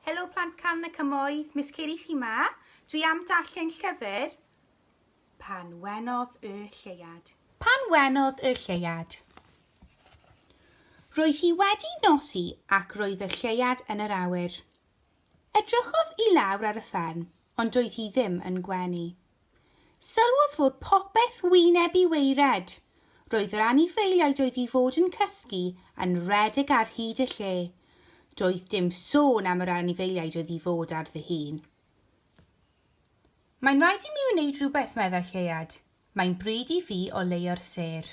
Helo plant can y cymoedd, Miss Ceri sy'n ma. Dwi am darllen llyfr Pan wenodd y lleuad. Pan wenodd y lleuad. Roedd hi wedi nosi ac roedd y lleuad yn yr awyr. Edrychodd i lawr ar y fferm, ond doedd hi ddim yn gwenu. Sylwodd fod popeth wyneb i waered. Roedd yr anifeiliaid oedd i fod yn cysgu yn rhedeg ar hyd y lle. Doedd dim sôn am yr anifeiliaid oedd i fod ar ddu hun. Mae'n rhaid i mi wneud rhywbeth, meddai'r lleuad. Mae'n bryd i fi oleuo'r sêr.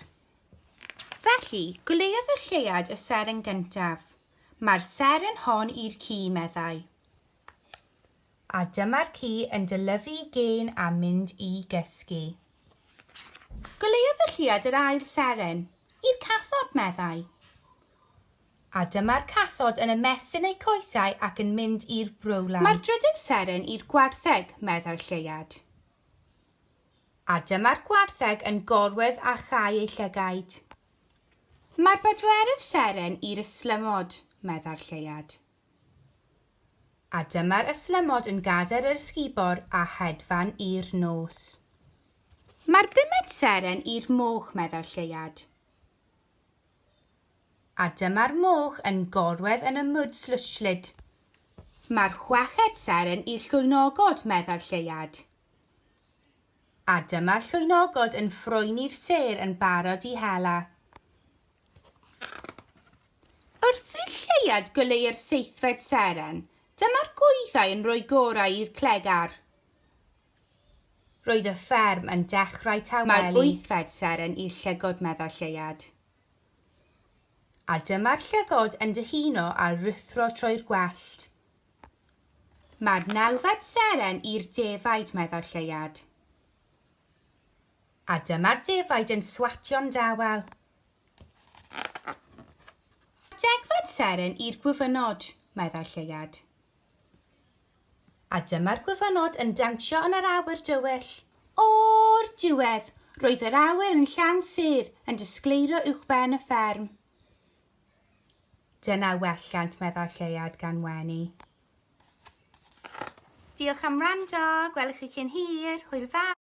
Felly, goleuodd y lleuad y seren gyntaf. Mae'r seren hon i'r ci, meddai. A dyma'r ci yn dylyfu gên a mynd i gysgu. Goleuodd fy lluad yr ail seren i'r cathod, meddai. A dyma'r cathod yn ymestyn eu coesau ac yn mynd i'r brwlan. Mae'r drydydd seren i'r gwartheg, meddai'r lleuad. A dyma'r gwartheg yn gorwedd a chau ei llygaid. Mae'r bedwerydd seren i'r ystlymod, meddai'r lleuad. A dyma'r ystlymod yn gadair yr ysgubor a hedfan i'r nos. Mae'r bumed seren i'r moch, meddai'r lleuad. A dyma'r moch yn gorwedd yn y mwd slwsllyd. Mae'r chweched seren i'r llwynogod, meddai'r lleuad. A dyma'r llwynogod yn ffroeni'r sêr yn barod i hela. Wrth i'r lleuad goleu'r seithfed seren, dyma'r gwyddau yn rhoi gorau i'r cleg ar. Roedd y fferm yn dechrau tawelu. Mae'r wythfed seren i'r llygod meddai'r lleuad. A dyma'r llygod yn dyhuno a ruthro trwy'r gwellt. Mae'r nawfed seren i'r defaid meddai'r lleuad. A dyma'r defaid yn swatio'n dawel. Degfad seren i'r gwyfynod, meddai'r lleuad. A dyma'r gwyfynod yn dawnsio yn yr awyr dywyll. O'r diwedd, roedd yr awyr yn llawn sêr yn disgleirio uwchben y fferm. Dyna welliant, meddai'r lleuad gan wenu. Diolch am wrando, gwelwch chi cyn hir, hwyl fawr!